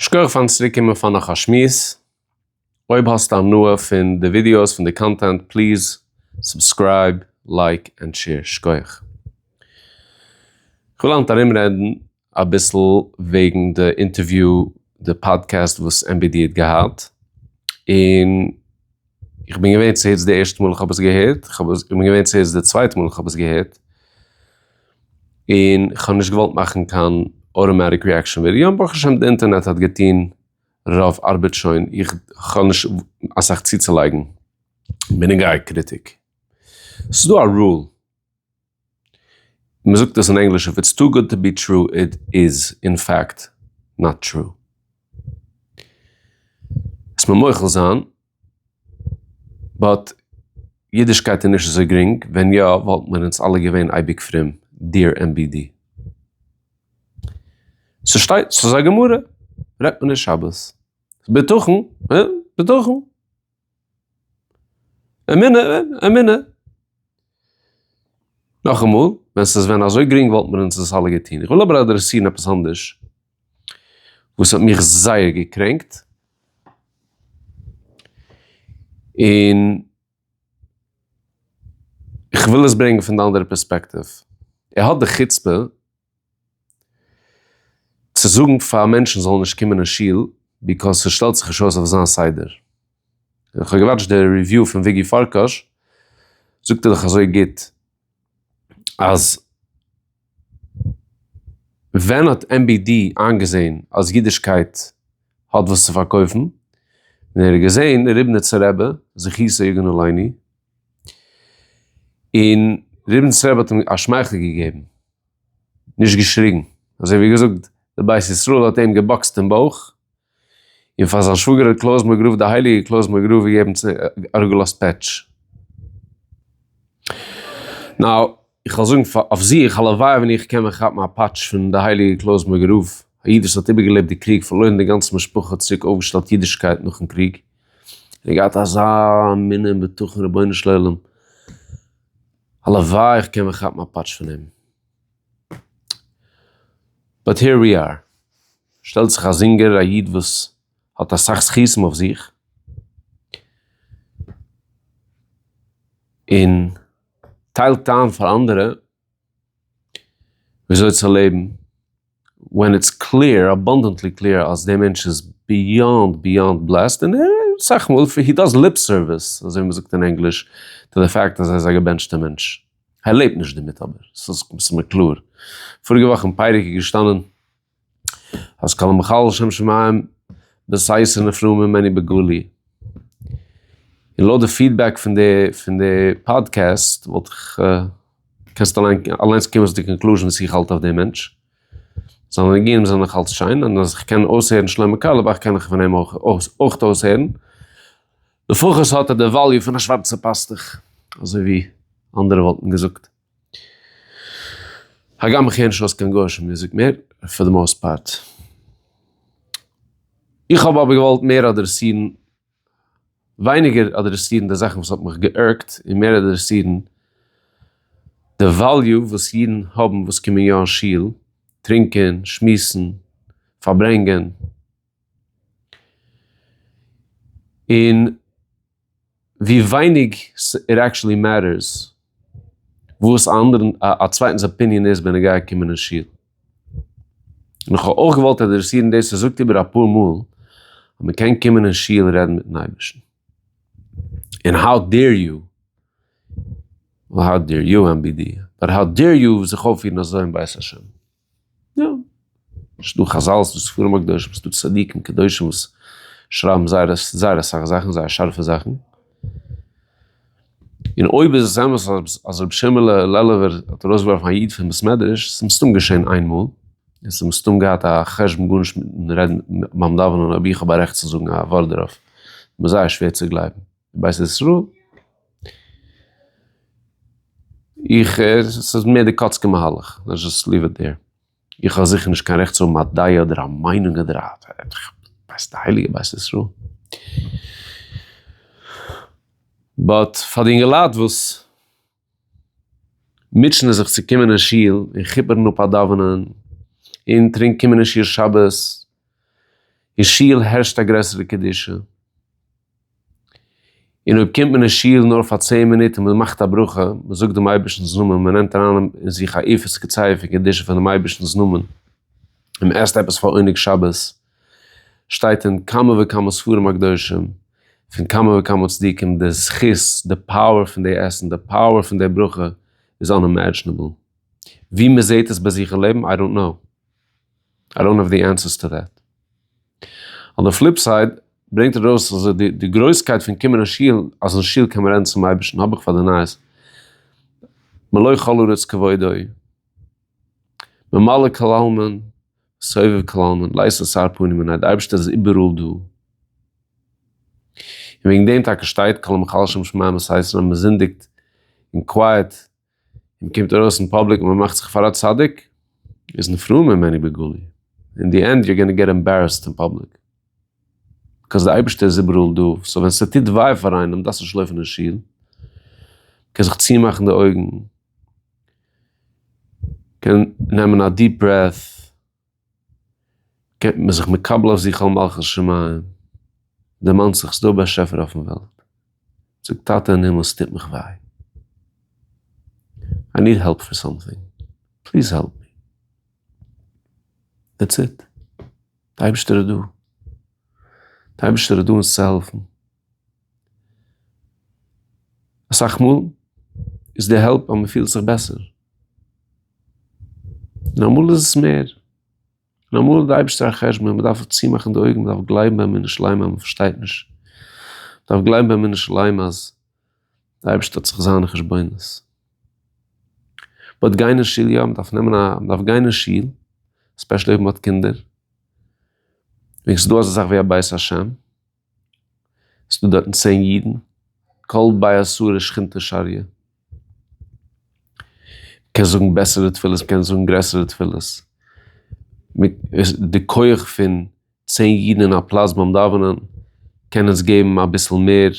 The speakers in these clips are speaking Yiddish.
שכוח פארן צוריק קומען פאר נאך א שמועס. אויב האסטו הנאה פון די ווידיאוס, פון די קאנטענט, פליז סובסקרייב, לייק ענד שעיר. שכוח. כ'וויל היינט ארומרעדן אביסל וועגן די אינטערוויו, די פאדקעסט וואס MBD האט געהאט, און. איך בין געווען צעהערטס די ערשטע מאל איך האב עס געהערט, איך בין געווען צעהערטס די צווייטע מאל איך האב עס געהערט, און כ'האב נישט געוואלט מאכן קיין אוטאמעטיק ריעקשאן ווידיאו, ברוך השם די אינטערנעט האט געטון רוב ארבעט שוין, איך האב נישט אסאך צוצולייגן בנוגע קריטיק, ס'איז דא א רול. מען זאגט דאס אין ענגליש, איף איטס טו גוד טו בי טרו איט איז אין פעקט נאט טרו. עס מען מוחל זיין, באט אידישקייט איז נישט אזוי גרינג, ווען יא וואלטן מיר אונז אלע געווען אייביג פרום, דיר ענד בי די. ס'שטייט, ס'איז א גמרא, רעדט מען נישט שבת. בטחון, אה? בטחון. אמונה, אמונה. נאכאמאל, ווען ס'איז ווען אזוי גרינג וואלט מען אונז עס אלע געטון. איך וויל אבער אדרעסירן עפעס אנדערש, וואס האט מיך זייער געקרענקט, און איך וויל עס ברענגען פון די אנדערע פערספעקטיוו. ער האט די חוצפה צו זאגן פאר מענטשן זאלן נישט קומען אין שול ביזקאז ס'שטעלט זיך נישט אויס אויף זיין סדר. איך האב געוואטשט די ריוויו פון וויגי פארקאש, זאגט ער דאך אזוי גוט אז ווען האט MBD איינגעזעהן אז אידישקייט האט וואס צו פארקויפן? ווען ער האט געזעהן ריבניצער רבי זכותו יגן עלינו און ריבניץ רבי האט אים א שמייכל געגעבן, נישט געשריגן, אזוי ווי געזאגט די בית ישראל האט אים געבאקסט אין בויך, און פאר זיין שוואגער האט קלויז מאגרוף די הייליגע קלויז מאגרוף געגעבן אראפגעלאזט פעטש. נאו. איך וועל זאגן פאר אויף זיך, הלוואי ווען איך קען מיר כאפן א פאטש פון די הייליגע קלוזמערגער רב, א איד וואס האט איבערגעלעבט די קריג, פארלוירן די גאנצע משפחה, צוריק אויפגעשטעלט אידישקייט נאכן קריג, און געהאט אזא אמונה און בטחון, רבונו של עולם, הלוואי איך קען מיר כאפן א פאטש פון אים. באט העיר ווי אר. שטעלט זיך א זינגער, א איד וואס האט אסאך זכותים אויף זיך, און טיילט איין פאר אנדערע וויאזוי צו לעבן ווען איטס קלעיר, אבאנדענטלי קלעיר, אז דער מענטש איז ביאנד ביאנד בלעסד, און ער, אסאך מאל, הי דאז ליפ סערוויס, אזוי ווי מ'זאגט אין ענגליש, טו די פאקט אז ער איז א געבענטשטע מענטש. ער לעבט נישט דערמיט אבער, ס'איז מסתמא קלאר. פאריגע וואך אין פייריק איז געשטאנען. אז כל המחלל שם שמים בסייס און אפרו ממני בגלוי. און לויט די פידבעק פון די פון די פאדקעסט וואלט איך קענסט אליין אליינס קומען צו די קאנקלוזשען וואס איך האלט אויף די מענטש. זיינע ניגונים זענען נאך אלץ שיין און אז איך קען אויסהערן שלמה קארליבאך קען איך פון אים אויך אויך אויסהערן. לפחות האט ער די וואליו פון א שווארצע פאסטוך אזוי ווי אנדערע וואלטן געזאגט. הגם איך הער נישט אויס קיין גויאישע מוזיק מער, פאר די מאוסט פארט. איך האב אבער געוואלט מער אדרעסירן, ווייניגער אדרעסירן די זאכן וואס האט מיך גע'ירג'ט, און מער אדרעסירן די וועליו וואס אידן האבן וואס קומען יא אין שול, טרינקען, שמועסן, פארברענגען. און ווי ווייניג איט עקטשעלי מעטערס וואס א אנדערע א צווייטענס אפיניען איז בנוגע קומען אין שול. און איך האב אויך געוואלט אדרעסירן דאס עס זאגט איבער אפאר מאל אז מען קען קומען אין שול און רעדן מיטן אייבערשטן. און האו דעיר יו, האו דעיר יו MBD, באט האו דעיר יו זיך אויפפירן אזוי אין בית השם. יא, ס'איז דא חזל, ס'איז דא ספרים הקדושים, ס'איז דא צדיקים קדושים וואס שרייבן זייער זייער אסאך זאכן, זייער שארפע זאכן. און אויב איז עס אמת אז רבי שמעלע לעלובער האט ארויסגעווארפן א איד פון בית מדרש, איז עס מסתם געשען איין מאל, און עס איז מסתם געהאט א חשבון גארנישט מיטן רעדן ביים דאווענען אויב איך האב א רעכט צו זאגן א ווארט דערויף, מ'איז זייער שווער צו גלייבן. בית ישראל. איך, עס איז מער די קאצקע מהלך, לעטס זשאסט ליוו איט דער. איך האב זיכער נישט קיין רעכט צו האבן א דעה אדער א מיינונג אדער א, ווייסט די הייליגע בית ישראל. באט פאר די אינגעלייט וואס. מוטשענען זיך צו קומען אין שול און כיפערן אפ א דאווענען און טרינק קומען אין שול שבת, אין שול הערשט א גרעסערע קדושה, און אויב קומט מען אין שול נאר פאר צען מינוט און מען מאכט א ברכה, מען זאגט דעם אייבערשטנ'ס נאמען, מען נעמט אריין אין זיך א איפות קציה פון קדושה פונעם אייבערשטנ'ס נאמען, און מען עסט עפעס פאר עונג שבת, שטייט אין כמה וכמה ספרים הקדושים, פון כמה וכמה צדיקים, די זכות, די פאוער פון די עסן, די פאוער פון די ברכה, איז אנאימעדזשענעבל. ווי מען זעט עס ביי זיך אין לעבן, איי דאנט קנאו. איי דאנט האוו די ענסערס טו דעט. אן די פליפ סייד, ברענגט ער ארויס אז די גרויסקייט פון קומען אין שול, אז אין שול קען מען רעדן צום אייבערשטן, האב איך פאר די נייעס, מלא כל ארץ כבודו, ממלא כל עלמין, סובב קלאונען, לייזט אסאר פנים און אז די אייבערשטער איז איבעראל דא, און וועגן דעם טאקע שטייט כל המחלשם שמיים וואס הייסט ווען מען זינדיגט אין קווייעט און מען קומט ארויס אין פאבליק און מען מאכט זיך פאר א צדיק איז נפרע ממני בגלוי, אין די ענד יו גאנא געט עמבערעסד אין פאבליק, ביקאוז די אייבערשטער איז איבעראל דא, סאו ווען ס'טוט וויי פאר איינעם דארפסטו נישט לויפן אין שול, מען קען זיך צומאכן די אויגן. קען נעמען א דיעפ ברעט, קען מען זיך מקבל אויף זיך על מלכות שמים, דערמאנט זיך ס'דא א באשעפער אויפן וועלט, זאגט טאטע אין הימל ס'טוט מיך וויי, איי ניד העלפ פאר סאמטינג, פליז העלפ מי, דעטס איט, די אייבערשטער איז דא, די אייבערשטער איז דא אונז צו העלפן. אסאך מאל איז די העלפ אז מ'פילט זיך בעסער, און אמאל איז עס מער, און אמאל האט די אייבערשטער א חשבון, מ'דארף אויף צומאכן די אויגן, מ'דארף גלייבן באמונה שלימה אז מ'פארשטייט נישט, מ'דארף גלייבן באמונה שלימה אז די אייבערשטער האט זיך זיינע חשבונות. באט גיין אין שול יא, מ'דארף נעמען א, מ'דארף גיין אין שול, ספעשעלי אויב מ'האט קינדער, וועגן ס'איז דא אזא זאך ווי א בית השם, ס'דא דארטן צען אידן, קול באי אסור שכינתא שריה. מ'קען זאגן בעסערע תפילות, מ'קען זאגן גרעסערע תפילות. די כח פון צען אידן אין א פלאץ ביים דאווענען, קען אונז געבן אביסל מער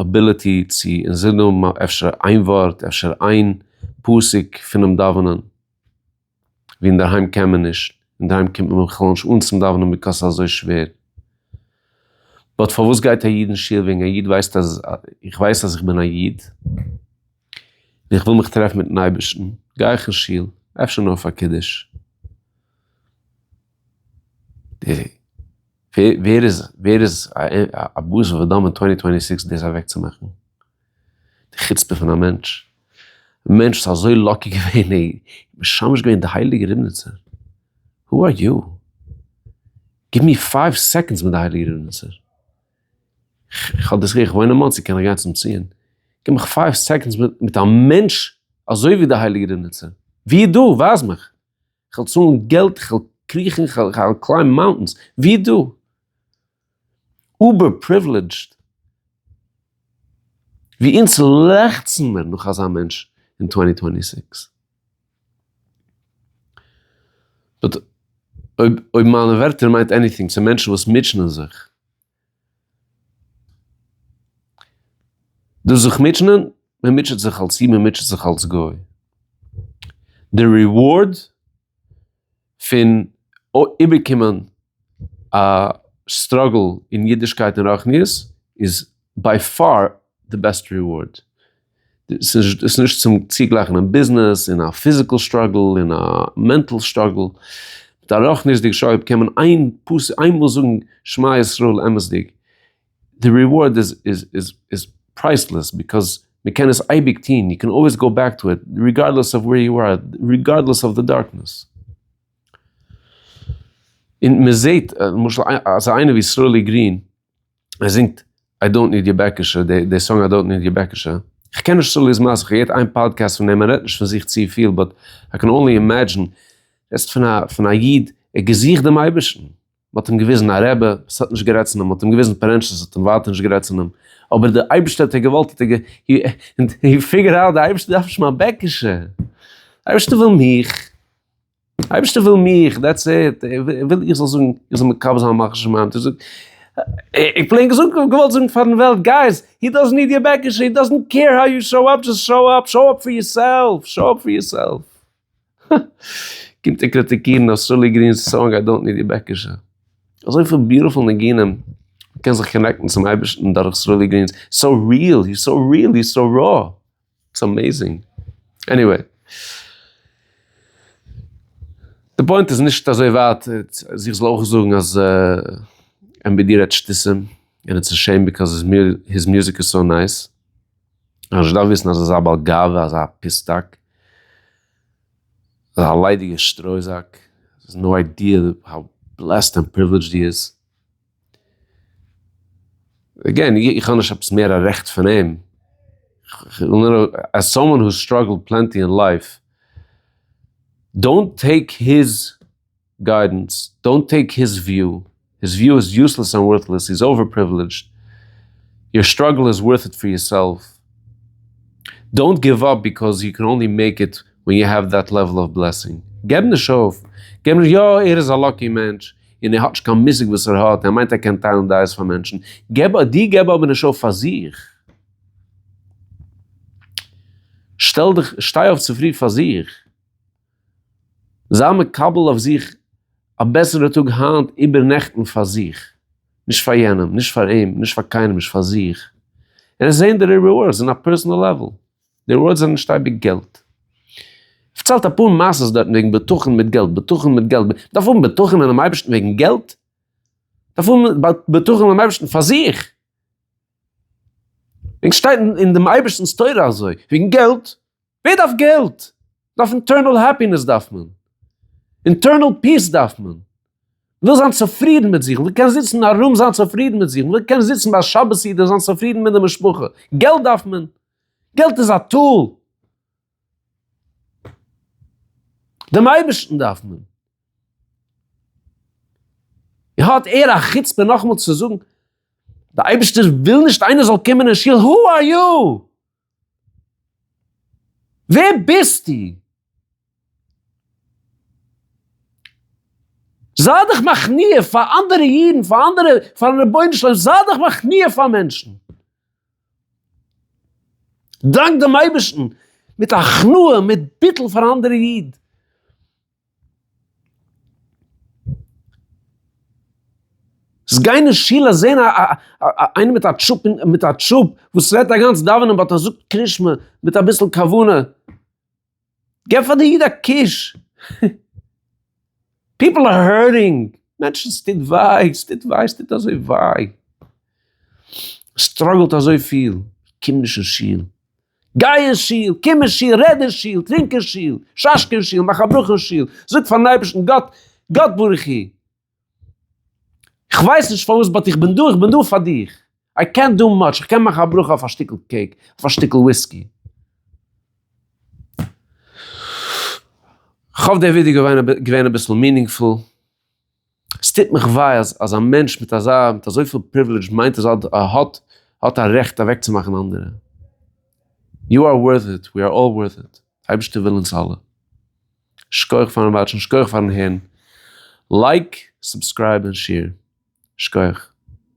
אביליטי צו אונז זאגן אפשר איין ווארט, אפשר איין פסוק פונעם דאווענען. ווי אינדערהיים קען מען נישט, אינדערהיים קומט מען בכלל נישט אן צום דאווענען ביקאוס ס'איז אזוי שווער. באט פארוואס גייט א איד אין שול וועגן א איד ווייסט אז איך ווייס אז איך בין א איד און איך וויל מיך טרעפן מיטן אייבערשטן גיי איך אין שול אפשר נאר פאר קידוש. ווער איז א בשר ודם אין טווענטי טווענטי סיקס דאס אוועקצומאכן? די חוצפה פון א מענטש, א מענטש וואס איז אזוי לאקי געווען און משמש געווען די הייליגע ריבניצער, הו אר יו? גיב מיר פייוו סעקאנדס מיט די הייליגע ריבניצער, כ'האב דאס געהערט, כ'וואוין אין מאנסי קען איך גיין צום ציון, גיב מיך פייוו סעקאנדס מיט א מענטש אזוי ווי די הייליגע ריבניצער, ווי איז דא? ווייז מיך, כ'וועל צאלן געלט, כ'וועל קריכן, כ'וועל קליימבן מאונטענס, ווי איז דא? אובער פריווילידזשד ווי אונז לעכצן מיר נאך אזא מענטש אין טווענטי טווענטי סיקס. באט אויב אויב מיינע ווערטער מיינט עניטינג צו מענטשן וואס מוטשענען זיך, דאס זיך מוטשענען, מען מוטשעט זיך אלס איד, מען מוטשעט זיך אלס גוי, די ריווארד פון איבערקומען א סטראגל אין אידישקייט און רוחניות איז ביי פאר די בעסט ריווארד, ס'איז נישט צום צוגלייכן אין ביזנעס און א פיזיקעל סטראגל און א מענטעל סטראגל, מיט א רוחניות'דיג שואב קען מען איינמאל זאגן שמע ישראל אמת'דיג, די ריווארד איז איז איז איז פרייסלעס ביזקאוז מען קען עס אייביג טוהן, יו קען אלוועיס גאו בעק טו איט ריגארדלעס אוו ווער יו אר, ריגארדלעס אוו די דארקנעס. און מען זעהט למשל אזא איינער ווי סרולי גרין, ער זינגט איי דאנט ניד יור בעקעשע, די סאנג איי דאנט ניד יור בעקעשע, כ'קען נישט סרולי'ס מעשה, כ'געהערט איין פאדקעסט פון אים, ער רעדט נישט פון זיך צופיל, באט איי קען אנלי אימעדזשין, רעדסט פון א איד, ער האט געזוכט דעם אייבערשטן, מען האט אים געוויזן א רבי וואס האט נישט גערעדט צו אים, מען האט אים געוויזן פארענטשעס וואס האט ווייטער נישט גערעדט צו אים, אבער די אייבערשטער האט ער געוואלט האט ער גע און הי פיגער אוט די אייבערשטער דארף נישט מיין בעקעשע, אייבערשטער וויל מיך, אייבערשטער וויל מיך דעטס איט, ער וויל איך זאל זאגן איך זאל מקבל זיין מלכות שמים, איך זאג איך פלעין געזאגט געוואלט זאגן פארן וועלט גייס הי דאזענט ניד יור בעקעשע הי דאזענט קעיר האו יו שאו אפ דזשאסט שאו אפ, שאו אפ פאר יור סעלף, שאו אפ פאר יור סעלף. קומט איר קריטיקירן אויף סרולי גרין'ס סאנג איי דאנט ניד יור בעקישע? אזויפיל ביוטיפול ניגונים, מען קען זיך קאנעקטן צום אייבערשטן דורך סרולי גרין, סאו ריעל, היז סאו ריעל, היז סאו רא, איטס אמעיזינג. עניוועי. די פוינט איז נישט אזוי ווייט, אז איך זאל אויך זאגן אז MBD רעדט שטותים, און איטס א שעים, ביקאז היז מיוזיק איז סאו נייס. אנשטאט וויסן אז ער איז א בעל גאווה אזא פיסטאק, אזא ליידיגע שטרויזאק, האסט נאו איידיע האו בלעסד ענד פריווילעדזשד הי איז. עגעין, איך האב נישט עפעס מער א רעכט פון אים, כ'וויל נאר עז סאמאן האס סטראגעלד פלענטי אין לייף, דאונט טעיק היז. גיידענס, דאונט טעיק היז וויו, היז וויו איז יוסלעס ענד ווארטלעס, הי איז אווער פריווילעדזשד, יור סטראגל איז ווארט איט פאר יור סעלף, דאונט גיוו אפ ביקאוז יו קען אנלי מעיק איט ווען יו העוו דעט לעוועל אוו בלעסינג, געב נישט אויף, געב נישט, יא ער איז א לאקי מענטש און ער האט נישט קיין מושג וואס ער האט, ער מיינט ער קען טיילן דעות פאר מענטשן, געב אויף, דו געב אבער נישט אויף פאר זיך, שטעל דיך, שטיי אויף צופרי פאר זיך. זיי מקבל אויף זיך א בעסערע טאג היינט איבער נעכטן פאר זיך, נישט פאר יענעם, נישט פאר אים, נישט פאר קיינעם, נישט פאר זיך, און עס זעהן די ריווארדס אין א פערסאנעל לעוועל, די ריווארדס זענען נישט אייביג געלט. פארציילט אפאר מעשה'ס דארטן וועגן בטחון מיט געלט, בטחון מיט געלט, מ'דארף האבן בטחון אינעם אייבערשטן וועגן געלט? מ'דארף האבן בטחון אינעם אייבערשטן פאר זיך, וועגן שטייט אין דעם אייבערשטנ'ס תורה אזוי, וועגן געלט? ווער דארף געלט? דארף אינטערנעל העפינעס דארף מען. אינטערנעל פיס דארף מען. מ'וויל זיין צופרידן מיט זיך, מ'וויל קענען זיצן ארום זיין צופרידן מיט זיך, מ'וויל קענען זיצן ביי שבת סעודה זיין צופרידן מיט די משפחה. געלט דארף מען. געלט איז א טול. דעם אייבערשטן דארף מען. און האט ער א חוצפה נאכאמאל צו זאגן, דער אייבערשטער וויל נישט איינער זאל קומען אין שול, הו אר יו! ווער ביסטו? זיי דיך מכניע פאר אנדערע אידן, פאר אנדערע, פארן רבונו של עולם, זיי דיך מכניע פאר מענטשן. דאנק דעם אייבערשטן מיט הכנעה, מיט ביטול פאר אנדערע אידן. זיי גייען אין שול אז זעהן א א איינער מיט א טשופ מיט א טשופ וואס רעדט אגאנץ דאווענען באט ער זאגט קרישמע מיט אביסל כוונה. געב פאר די איד א קוש. פיפל אר הערטינג. מענטשן ס'טוט וויי ס'טוט וויי ס'טוט אזוי וויי. סטראגעלט אזויפיל. קום נישט אין שול. גיי אין שול, קום אין שול, רעד אין שול, טרינק אין שול, שאשקע אין שול, מאך א ברכה אין שול, זאג פארן אייבערשטן גאט, גאט ברוך הוא, כ'ווייס נישט פארוואס באט איך בין דא, איך בין דא פאר דיך, איי קענט דא מאטש, איך קען מאכן א ברכה אויף א שטיקל קעיק, אויף א שטיקל וויסקי. כ'האף די ווידעא געווען אביסל מינינגפול. עס טוט מיך וויי אז אז א מענטש מיט אזא מיט אזויפיל פריווילעדזש מיינט אז ער האט האט א רעכט אוועקצומאכן אנדערע. יו אר ווארט איט, ווי אר אלל ווארט איט, די אייבערשטער וויל אונז אלע. שקויעך פארן וואטשן, שקויעך פארן הערן, לייק, סובסקרייב און שעיר. שקויעך.